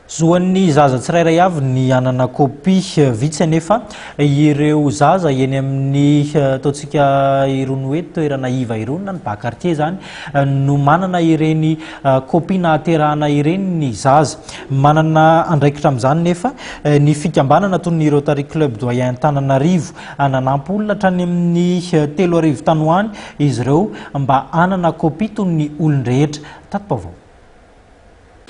Zo an'ny zaza tsirairay avy ny hanana kopia. Vitsy anefa ireo zaza eny amin'ny ataontsika irony hoe toerana iva irony na ny bas quartier izany no manana ireny kopia nahaterahana ireny ny zaza. Manana andraikitra amin'izany nefa ny fikambanana toy ny Rotary Club Doyen Antananarivo. Nanampy olona hatrany amin'ny telo arivo tany ho any izy ireo mba hanana kopia toy ny olon-drehetra. Tati-baovao.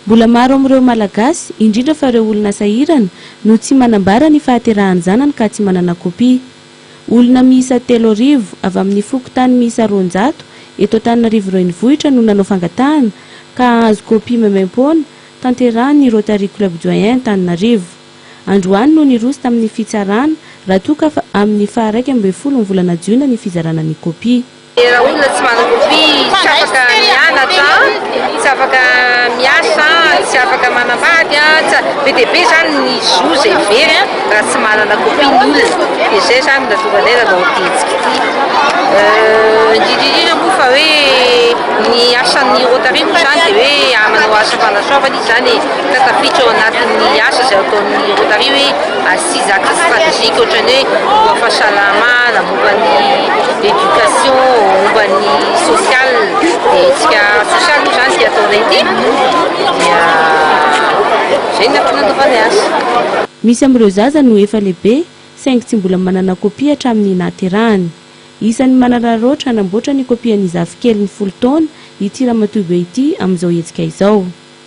Mbola maro amin'ireo Malagasy, indrindra fa ireo olona sahirana, no tsy manambara ny fahaterahan-janany ka tsy manana kopia. Olona miisa telo arivo, avy amin'ny fokontany miisa roanjato eto Antananarivo Renivohitra no nanao fangatahana ka hahazo kopia maimaimpoana, tanterahin'ny Rotary Club Doyen Antananarivo. Androany no niroso tamin'ny fitsarana, raha toa ka amin'ny faha iraika ambin'ny folo ny volana jiona ny fizarana ny kopia. Raha olona tsy manan-kofia, tsy afaka mianatra, tsy afaka miasa, tsy afaka manambady, be dia be izany ny zo izay very raha tsy manana kofia ny olona. Dia izay izany no nahatonga anay nanao ity hetsika ity. Indrindra indrindra moa fa hoe ny asan'ny Rotary moa izany dia hoe manao asa fanasoavana izy izany e, ka tafiditra ao anatin'ny asa izay ataon'ny Rotary hoe. Tsy zaka strategique ohatran'ny hoe momba ny fahasalamana, momba ny éducation, momba ny social, dia hetsika social moa izany ity ataonay ity, dia izay no antony nanaovanay azy. Misy amin'ireo zaza no efa lehibe saingy tsy mbola manana kopia hatramin'ny nahaterahany. Isan'ny manararaotra hanamboatra ny kopian'ny zafikeliny folo taona ity ramatoa be ity amin'izao hetsika izao.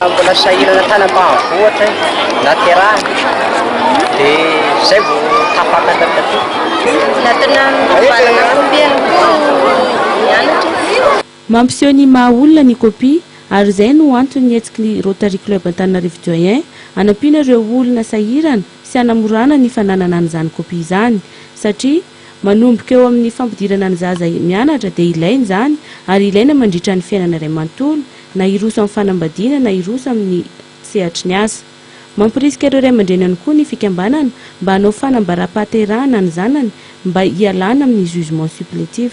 Mbola sahirana tany ambanivohitra izy, naterahany dia izay vao tapaka tany an-toerana. Natona mivalana combien no nianatra izy? Mampiseho ny maha olona ny kopia ary izay no antony nihetsiky ny Rotary Club Antananarivo Joyeux hanampiana ireo olona sahirana sy hanamorana ny fananana an'izany kopia izany satria Manomboka eo amin'ny fampidirana ny zaza mianatra dia ilaina izany ary ilaina mandritra ny fiainana iray manontolo, na hiroso amin'ny fanambadiana na hiroso amin'ny sehatry ny asa. Mampirisika ireo ray aman-dreny ihany koa ny fikambanana mba hanao fanambaram-pahaterahana ny zanany mba hialana amin'ny jugement supplétif.